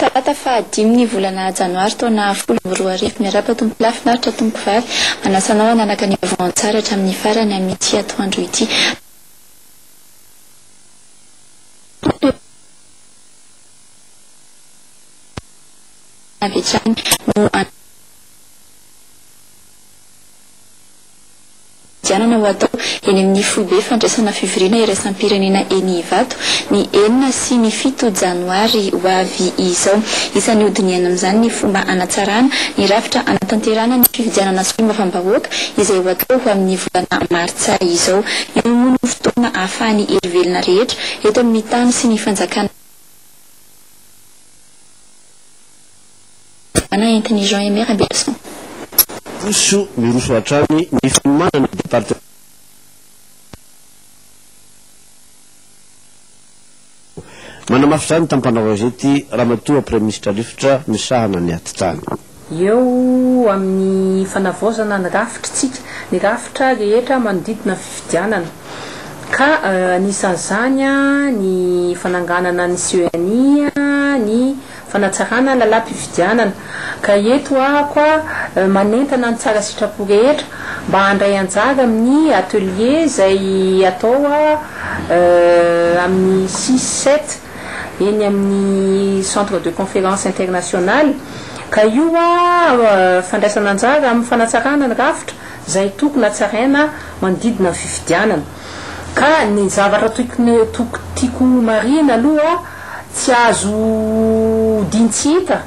Talata faha dimy ny volana janoary taona folo amby roa arivo. Miarahaba tompoko lahy, finaritra tompoko vavy. Manasa anao hanaraka ny vaovao an-tsary hatramin'ny farany amin'ity atoandro ity. avy hatrany no anidianana ho atao eny amin'ny foibe fandraisana fivoriana iraisam-pirenena eny Ivato ny enina sy ny fito janoary ho avy izao. Isan'ny hodinihana amin'izany ny fomba hanatsarana ny rafitra hanatanterahana ny fifidianana solombavambahoaka izay ho atao ho amin'ny volana martsa izao. Io moa no fotoana ahafahan'ny hery velona rehetra eto amin'ny tany sy ny fanjakana milamina entin'i Jean Aimé Raberason. Miroso miroso hatrany ny fanomanana ny Departemantan'ny Asa. Manamafy izany tampanao gazety Ramatoa Praiminisitra Rivotra misahana ny atitrano. Eo amin'ny fanavaozana ny rafitr'tsika ny rafitra rehetra manodidina ny fifidianana ka anisan'izany ny fananganana ny CENI, ny. fanatsarana lalam-pifidianana ka eto aho koa manentana ny tsara sitrapo rehetra mba handray anjara amin'ny atelier izay atao amin'ny six, sept eny amin'ny centre de conférence international ka io fandraisana anjara amin'ny fanatsarana ny rafitra izay tokony hatsaraina manodidina ny fifidianana. Ka ny zavatra tiako ho marihina aloha, tsy azo odiany tsy hita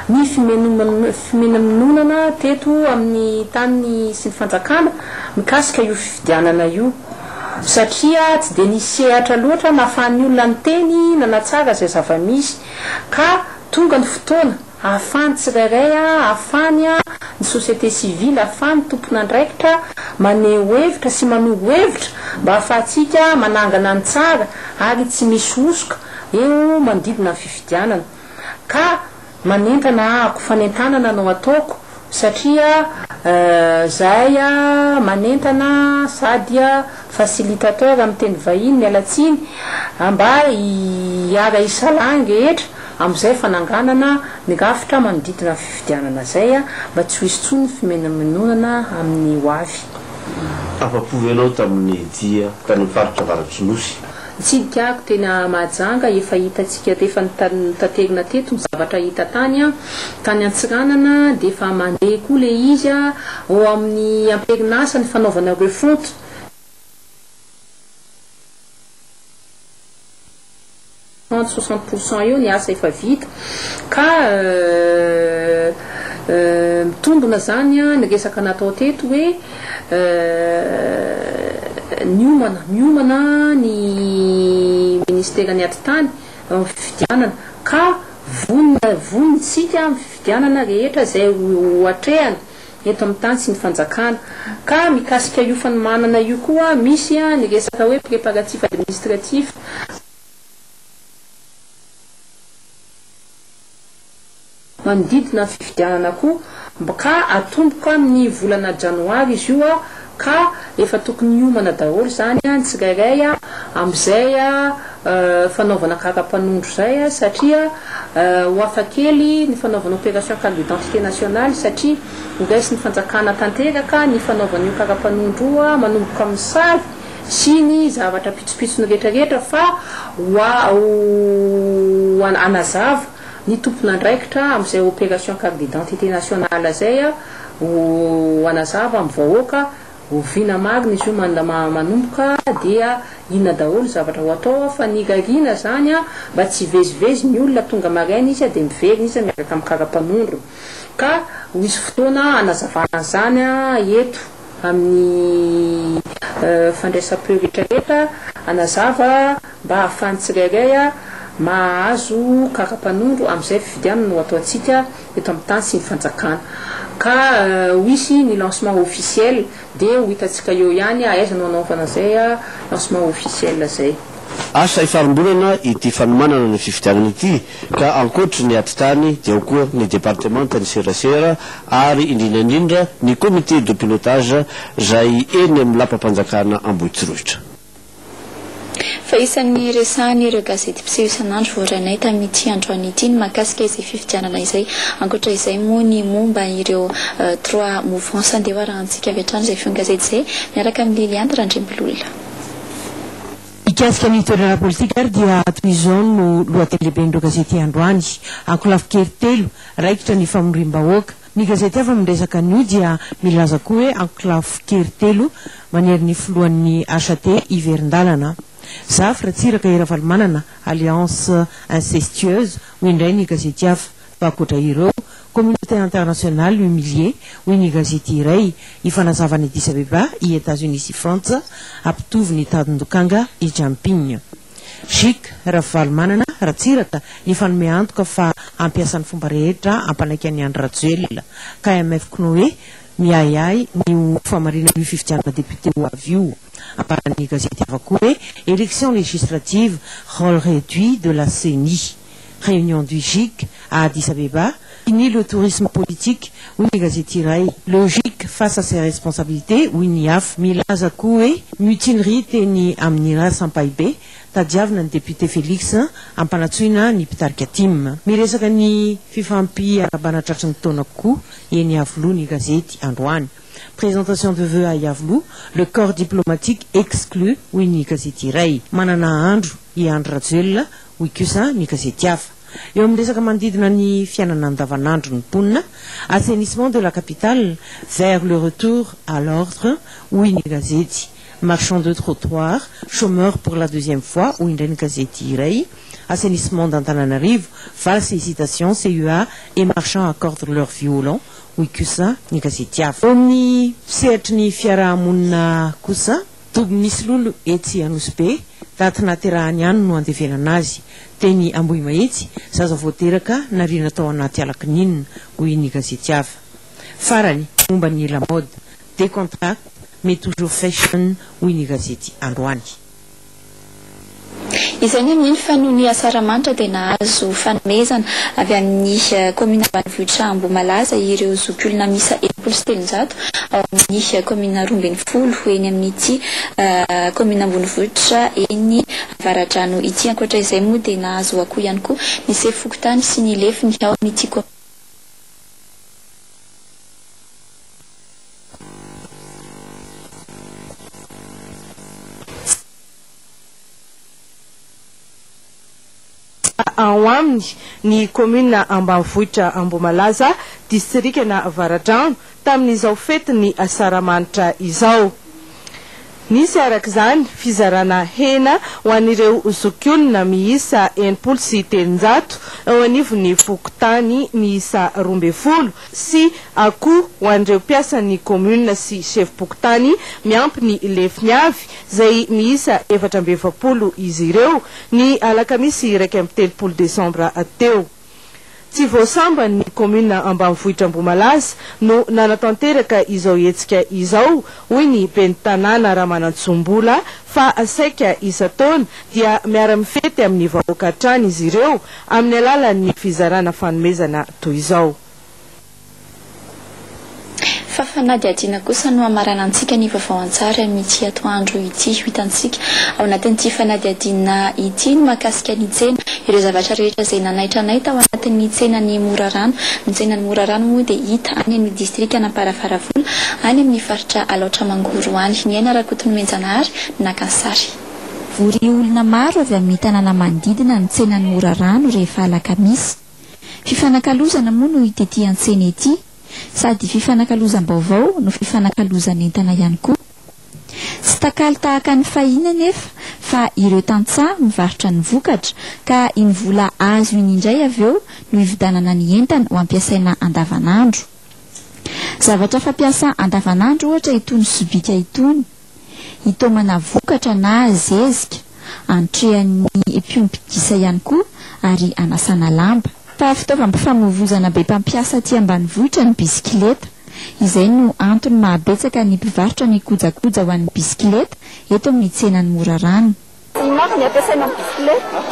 ny fimenemononana teto amin'ny tany sy ny fanjakana mikasika io fifidianana io. Satria tsy dia nisy sehatra loatra nahafahan'ny olona niteny nanatsara izay zava-misy. Ka tonga ny fotoana. Ahafahan'ny tsirairay, ahafahan'ny ny société civile, ahafahan'ny tompon'andraikitra maneho hevitra sy manoro hevitra mba ahafahantsika manangana ny tsara ary tsy misy hosoka eo manodidina ny fifidianana. Ka manentana ahako, fanentanana no ataoko Satria zahay manentana sady facilitateur amin'ny teny vahiny, miala tsiny, mba hiara hisalahy ny rehetra amin'izay fananganana ny rafitra manodidina fifidianana izay mba tsy ho hisy intsony ny fimenamenonana amin'ny ho avy. Afa-po ve ianao tamin'ny dia tany amin'ny faritra Avaratr'Nosy? Nitsidika ahy tena Mahajanga, efa hitantsika teto, efa notaterina teto ny zavatra hita tany an, tany Antsiranana dia efa mandeha koa ilay izy an, ao amin'ny amperin'asa ny fanaovana refonte, trente, soixante pour cent eo ny asa efa vita ka mitombina izany an, ny resaka natao teto hoe. Niomana miomana ny Ministeran'ny Atitany amin'ny fifidianana ka vonona vonona isika amin'ny fifidianana rehetra izay hoatrehana eto amin'ny tany sy ny fanjakana. Ka mikasika io fanomanana io koa misy ny resaka hoe préparatifs administratifs. Manodidina ny fifidianana koa mb ka atomboka amin'ny volana janoary izy io ka efa tokony hiomana daholo izany ny tsirairay amin'izay fanaovana kaka mpanondro izay satria ho hafa kely ny fanaovana opération carte d'identité nationale satria ho raisin'ny fanjakana tanteraka ny fanaovana io kaka mpanondro io manomboka amin'ny sary sy ny zavatra pitsopitsony rehetrarehetra fa ho a ho hanazava ny tompon'andraikitra amin'izay opération carte d'identité nationale izay a ho hanazava amin'ny vahoaka oviana marina izy io manda ma manomboka dia inona daholo ny zavatra ho atao a fa ny irariana izany a mba tsy hivezivezy ny olona tonga maraina izy a dia miverina izy a miaraka amin'ny karapanondrony ka ho hisy fotoana hanazavana an'izany a eto amin'ny fandraisam-peo rehetra rehetra hanazava mba hahafahan'ny tsirairay mahazo kara-panondro amin'izay fifidianana ho ataontsika eto amin'ny tany sy ny fanjakana ka ho hisy ny lancement officiel dia ho hitantsika eo ihany aiza no hanaovana izay lancement officiel izay. Asa hifarimborana ity fanomanana ny fifidianana ity. ka ankoatry ny atitany dia ao koa ny departemantan'ny serasera ary indrindra indrindra ny comité de pilotage izay eny amin'ny lapam-panjakana Ambohitsorohitra. Fa isan'ny resahan'ireo gazety mpiseho isan'andro voarainay tamin'ity androany ity ny mahakasika izay fifidianana izay. Ankoatra izay moa ny momba ireo trois mouvances. Andeha ho arahantsika avy hatrany izay feon-gazety izay miaraka amin'i Liliane Randriambolola. Mikasika ny toerana politika ary dia toy izao no lohateny lehiben'ireo gazety androany, Ankolafy kely telo, raikitra ny famoriam-bahoaka. Ny gazety hafa miresaka an'io dia milaza koa hoe Ankolafy kely telo manery ny filohan'ny HAT hiverin-dalana. Zafy, Ratsiraka, i Ravalomanana, alliance incestueuse, hoy indray ny gazety hafa. Fa ankoatra ireo, communauté internationale humiliée, hoy ny gazety iray, i fanazavan'i Addis Abeba, i Etats-Unis sy Frantsa, hampitovy ny tandin-dokanga i Jamping. Chic, Ravalomanana, Ratsiraka, nifanome antoka fa hampiasa ny fomba rehetra hampanaiky an'i Andry Rajoelina. KMF K'noe miahiahy ny ho famarinan'io fifidianana député ho avy io. Ambaran'ny gazety hafa koa hoe, Élections législatives, rôle réduit de la ceni. Réunion du GIC à Addis Abeba, Fini le tourisme politique, hoy ny gazety iray. Le GIC face à ses responsabilités, hoy ny hafa. Milaza koa hoe mutinerie teny amin'ny Ras Ampahibe, tadiavina ny député Félix hampanatsoina ny mpitarika tim. Miresaka ny fifampiarabana tratry ny taona koa eny Iavoloha ny gazety androany. Présentation de vœux à Iavoloha, le corps diplomatique exclu, hoy ny gazety iray. Manana andro i Andry Rajoelina hoy kosa ny gazety hafa. Eo amin'ny resaka manodidina ny fiainana andavanandron'ny mponina, assainissement de la capitale vers le retour à l'ordre, hoy ny gazety, marchands de trottoirs, chômeurs pour la deuxième fois, hoy indray ny gazety iray, assainissement d'Antananarivo, valses hésitations, CEA et marchands accordent leur violon, hoy kosa ny gazety hafa. Eo amin'ny sehatry ny fiarahamonina kosa, Toby misy lolo etsy Anosibe, taty nahaterahany any no andevenana azy. Teny Ambohimahitsy, zaza vao teraka, nariana tao anaty ala kininina, hoy ny gazety hafa. Farany, momba ny lamaody, Decontracte mais toujours fashion, hoy ny gazety androany. Izay no mino fa noho ny Asaramanitra dia nahazo fanomezana avy amin'ny kaomina ambanivohitra Ambohimalaza ireo zokiolona miisa enimpolo sy telonjato ao amin'ny kaomina roa ambin'ny folo eny amin'ity kaomina ambonivohitra eny Avaradrano ity. Ankoatra izay moa dia nahazo akoho ihany koa ny sefo fokontany sy ny lefiny ao amin'ity kaomina. ao aminy ny kaominina ambanivohitra Ambohimalaza, distrikana Avaradrano, tamin'izao fetin'ny Asaramanitra izao. Nisy araka izany fizarana hena ho an'ireo zokiolona miisa enimpolo sy telonjato eo anivon'ny fokontany miisa roa ambin'ny folo sy akoho ho an'ireo mpiasan'ny Kaominina sy Sefom-pokontany miampy ny lefiny avy, izay miisa efatra amby efapolo izy ireo, ny alakamisy iraika amby telopolo desambra teo. Tsy vao sambany ny Kaominina ambanivohitra Ambohimalaza no nanatanteraka izao hetsika izao, hoy ny Ben'ny Tanàna Ramanantsoa Mbola, fa saika isan-taona dia miara-mifety amin'ny vahoaka hatrany izy ireo, Amin'ny alalan'ny fizarana fanomezana toy izao. Fa fanadihadiana kosa no hamaranantsika ny vaovao an-tsary amin'ity atoandro ity. Ho hitantsika ao anatin'ity fanadihadiana ity ny mahakasika ny tsena, ireo zavatra rehetra izay nanaitra anay tao anatin'ny tsenan'i Morarano. Ny tsenan'i Morarano moa dia hita any amin'ny distrikan'Amparafaravola, any amin'ny faritra Alaotra Mangoro any. Niaina Rakotonomenjanahary no naka ny sary. Vory olona maro avy amin'ny tanàna manodidina ny tsenan'i Morarano rehefa alakamisy. Fifanakalozana moa no ity antsena ity, sady fifanakalozam-baovao no fifanakalozan'entana ihany koa. Tsy takalo tahaka ny fahiny anefa fa ireo tantsaha mivarotra ny vokatra ka iny vola azo iny indray avy eo no ividanana ny entana ho ampiasaina andavanandro. Zavatra fampiasa andavanandro ohatra itony sobika itony. hitaomana vokatra na zezika, antrehan'ny mpiompy gisa ihany koa ary anasana lamba. Fa fitaovam-pifamoivoizana be mpampiasa aty ambanivohitra ny bisikileta. Izay no antony mahabetsaka ny mpivarotra ny kojakoja ho an'ny bisikileta eto amin'ny tsenan'i Morarano. Inona avy ny ampiasaina ny bisikileta?